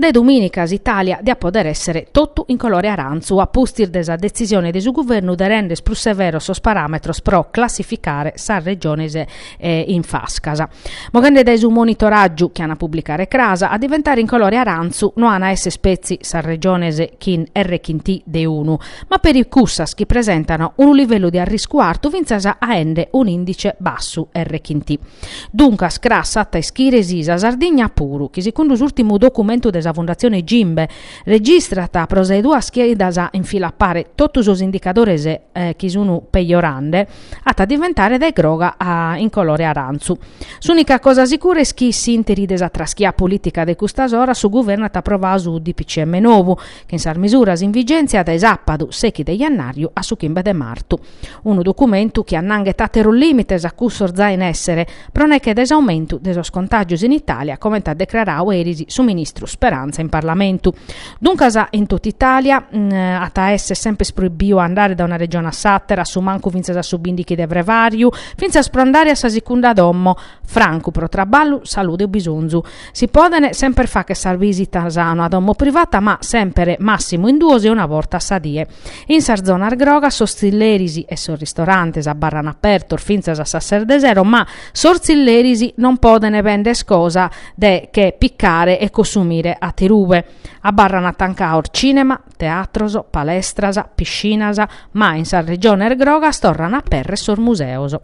De domìnica s'Itàlia diat poder èssere totu in colore arantzu a pustis de sa detzisione de su guvernu de render prus severos sos paràmetros pro classificare sas regiones in fascas. Moghende dae su monitoràgiu chi an a publicare cras, a diventare in colore arantzu no an a èssere spetzi sas regiones chin R chin T de unu, ma peri cussas chi presentan unu livellu de arriscu artu fintzas aende un'indice bassu R chin T. Duncas cras s'at a ischire si sa Sardigna puru, chi segundu s'urtimu documentu de sa Fundatzione Gimbe, registrat pro sas duas chidas in fila a pare totu sos indicadores chi sun pejorende, at a diventare dae groga a in colore arantzu. S'unica cosa sicura est chi s'interi de sa traschia politica de custas oras su guvernu at aprovadu su DPCM novu, chin sas misuras in vigèntzia dae sàpadu sechi de jannàriu a su chimbe de martu. Unu documentu chi annanghet àteros lìmites a cussos giai in èssere, pro neche de s'aumentu de sos contàgios in Itàlia, comente at decraradu eris su ministru Speranza in Parlamentu. Duncas, in totu Itàlia at a èssere semper proibiu a andare dae una regione a s'àtera, a su mancu fintzas a su bìndighi de frevàriu, fintzas pro andare a sa sicunda domo, francu pro traballu, salude o bisonzu. Si podent semper fagher sas bisitas a una domo privata ma semper massimu in duos e una borta a sa die. In sas zonas grogas sos tzilleris e sos ristorantes abarran apertos fintzas a sas ses de sero ma sos tzilleris non podent bender cosa de che picare e cossumire aterube. Abarran atancados cinema, teatros, palestras, piscinas ma in sas regiones grogas torran a aperrer sos museos.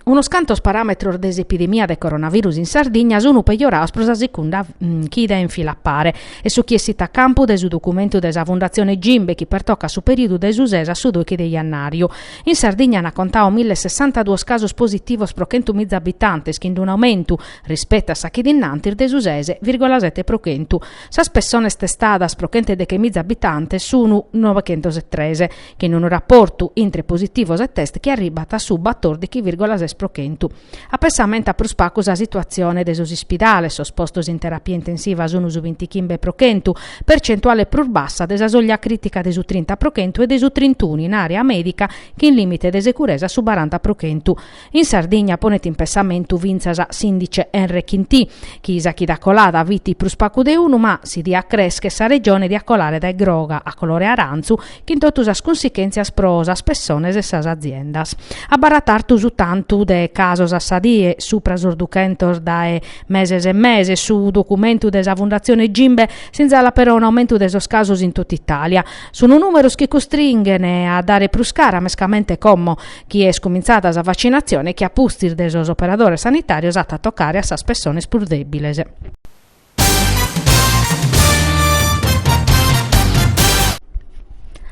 Unos cantos paràmetros de s'epidemia de coronavirus in Sardigna sunt pejorados pro sa segunda chida in fila a pare est su chi essit a campu de su documentu de sa Fundatzione Gimbe chi pertocat su perìodu de su ses a su doighi de jannàriu. In Sardigna ant contadu mille e sessantaduos casos positivos pro chentu miza abitantes chin un'aumentu, rispettu a sa chida in antis, de su ses virgola sete pro chentu. Sas pessones testadas pro chent'e deghe miza abitantes sunu novechentos e tres, chin unu raportu intre positivos e test chi arribat a su batòrdighi vìrgola ses pro chentu. Apensamentat prus pagu sa situatzione de sos ispidales, sos postos in terapia intensiva sunu su bintichimbe pro chentu, percentuale prus bassa de sa soglia crìtica de su trinta pro chentu e de su trintunu in àrea mèdica chin lìmite de seguresa a su baranta pro chentu. In Sardigna ponet in pensamentu fintzas s'indice R chin T, chi sa chida colada fit prus pagu de unu, ma si diat crèscher sa Regione diat colare dae groga a colore arantzu, chin totu sas cunsichèntzias pro sas pessones e sas aziendas. Abarrat artu su tantu de casos a sa die, supra sos duchentos dae meses e meses, su documentu de sa Fundatzione Gimbe, sinzalat però un'aumentu de sos casos in totu Itàlia. Sunt nùmeros chi costringhen a dare prus cara mescamente como chi est cumintzada sa vacinatzione e chi a pustis de sos operadores sanitàrios at a tocare a sas pessones prus dèbiles.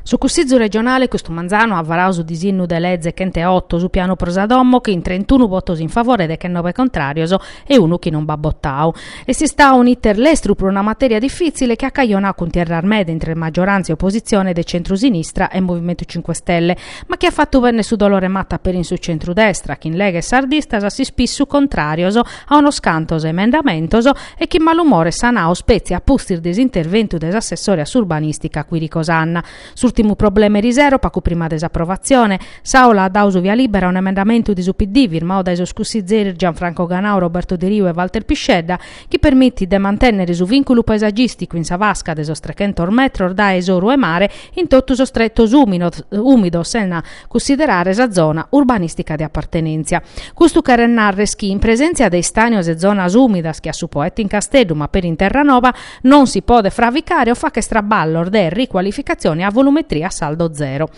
Su Cussìgiu regionale custu manzanu at varadu su disinnu de leze chent'e oto, su pianu pro sa domo, chin trentunu votos in favore deghenobe contràrios e unu chi non b'at botadu. Est istadu un'iter lestru pro una matèria difìtzile chi at cajonadu cuntierras meda intre magioràntzia e opositzione de centru-sinistra e Movimentu Cinque Stelle, ma chi at fatu bennere su dolore 'e mata peri in su centru-destra, chin Lega e sardistas a s'ispissu contràrios a unos cantos emendamentos e chin malumores sanados petzi a pustis de s'interventu de s'assessore a s'urbanìstica Quirico Sanna. S'ùrtimu problema erisero, pagu prima de s'aprovatzione, s'Àula at dadu su via lìbera a un'emendamentu de su PD firmadu dae sos cussitzeris Gianfranco Ganau, Roberto Deriu e Walter Piscedda, chi permitit de mantènnere su vìnculu paesagìsticu in sa fasca de sos trechentos metros dae s'oru 'e mare in totu sos tretos ùmidos sena cussiderare sa zona urbanìstica de apartenèntzia. Custu cheret narrer chi in presèntzia de istànios e zonas ùmidas che a su Poetto in Casteddu ma peri in Terranova non si podet fraficare o fagher traballos de ricualificatzione a volumetria a saldo zero.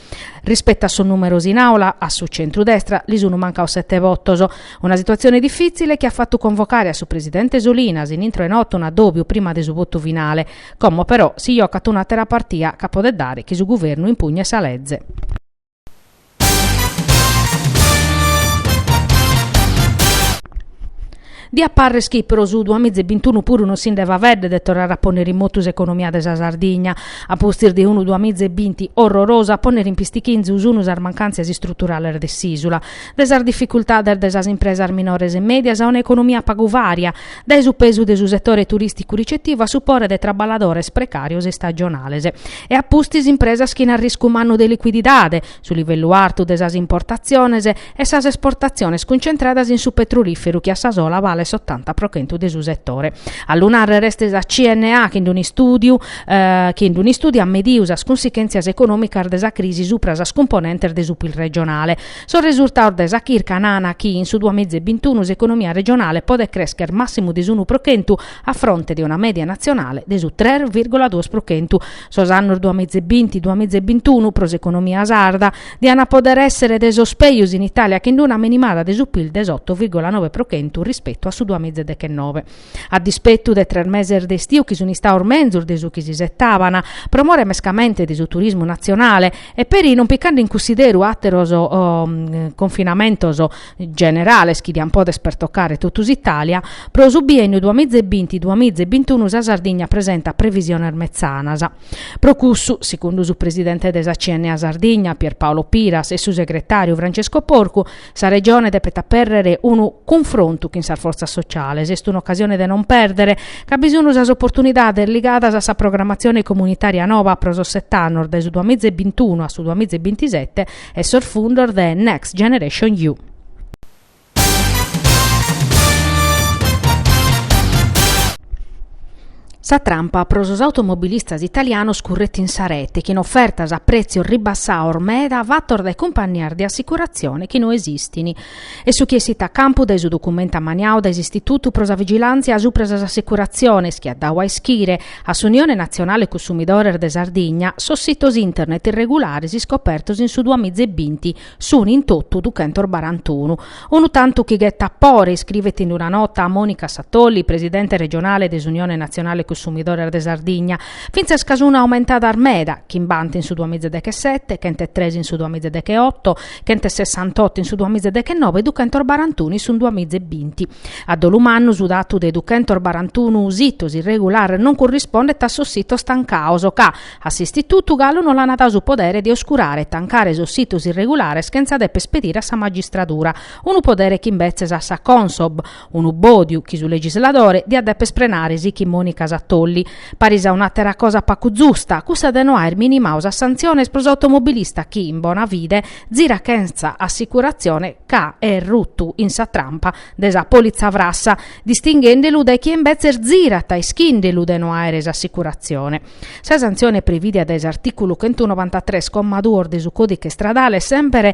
Rispettu a sos numeros in aula a su centru destra li sunu mancaos sete votos. Una situatzione difitzile chi at fatu convocare a su presidente Solinas in intro 'e notu un'adobiu prima de su votu finale. Como però si jocat un'atera partia ca podet dare chi su guvernu impugnet sa leze. Diat pàrrere chi pro su duamiza e bintunu puru non si nde faveddet de torrare a pònnere in motu s'economia de sa Sardigna. A pustis de unu duamiza e binti orrorosu a pònnere in pistichinzu sunu sas mancàntzias istruturales de s'ìsula, de sas dificultades de sas impresas minores e mèdias a un'economia pagu vària, dae su pesu de su setore turìsticu ricetivu a su pore de traballadores precàrios e istagionales e a pustis impresas chin arriscu mannu de licuididade, su livellu artu de sas importatziones e sas esportatziones cuncentradas in su petrolìferu chi a sa sola balet s'otanta pro chentu de su setore. A lu narrer est sa CNA chi in un'istùdiu, chi in un'istùdiu at medidu sas cunsichèntzias econòmicas de sa crisi subra sas cumponentes de su pil regionale. Sos resurtados de sa chirca nana chi in su duamiza e bintunu s'economia regionale podet crèschere màssimu de s'unu pro chentu a fronte de una mèdia natzionale de su tres vìrgula duos pro chentu, Sos annos duamiza e binti, duamiza e bintunu pro s'economia sarda dian a poder èssere de sos pejus in Itàlia chin una menimada de su pil de s'oto vìrgula nove pro chentu rispetu a su duamiza e dechennoe. A dispetu de tres meses de istiu chi sun istados menzus de su chi s'isetaban pro more mescamente de su turismu natzionale e peri non picande in cunsideru àteros confinamentos generales chi diant poder pertocare totu s'Italia, pro su bienniu duamìgia e binti duamìgia e bintunu sa Sardigna presentat previsiones metzanas. Pro cussu, segundu su presidente de sa CNA Sardigna, Pierpaolo Piras, e su segretàriu Francesco Porcu, sa Regione depet apèrrere unu cunfrontu chin sas fortzas sociales, est un'ocasione de non pèrdere, ca bi sun sas oportunidades ligadas a sa programatzione comunitària nova pro sos sete annos dae su duamìgia e bintunu a su duamìgia e bintisete, e sos fundos de Next Generation EU. Sa trampa pro sos automobilistas italianos curret in sa rete, chin ofertas a prètzios ribassados meda fatos dae cumpannias de assicuratzione chi no esistin. Est su chi essit a campu dae su documentu ammaniadu dae s'Istitutu pro sa Vigilàntzia subra sas Assicuratziones chi at dadu a ischire, A s'Unione Natzionale Cunsumidores de Sardigna sos sitos internet irregulares iscopertos in su duamiza e binti sunt in totu duchentos barantunu. Unu tantu chi ghetat pore, iscrivet in una nota a Monica Satolli, presidente regionale de s'Unione Natzionale Cunsumidores de Sardigna, fintzas ca sunt aumentadas meda, chimbanta in su duamiza dechesete, chent'e tres in su duamiza e decheoto, Chent'e sessantotto in su duamiza e dechenove e duchentos barantunu in su duamiza e binti. A dolu mannu su datu de duchentos barantunu sitos irregulares non currispondet a sos sitos tancados ca, a s'istitutu, galu no l'ana dadu su podere de oscurare e tancare sos sitos irregulares chentza depper pedire a sa magistradura, unu podere ch'imbetzes at sa Consob, Unu bòdiu chi su legisladore diat dèpere prenare, sichit Mònica Satolli. Paris a un'àtera cosa pagu zusta, cussa de no aer minimadu sas santziones pro s'automobilista chi, in bona fide, zirat chentza assicurazione ca est rutu in sa trampa de sa politza frassa, distinghende lu dae chie imbetzes zirat ischinde lu de no aere s'assicurazione. Sa santzione prevìdia dae s'artìculu chentunobantatres comma duos de su Còdiche Istradale est semper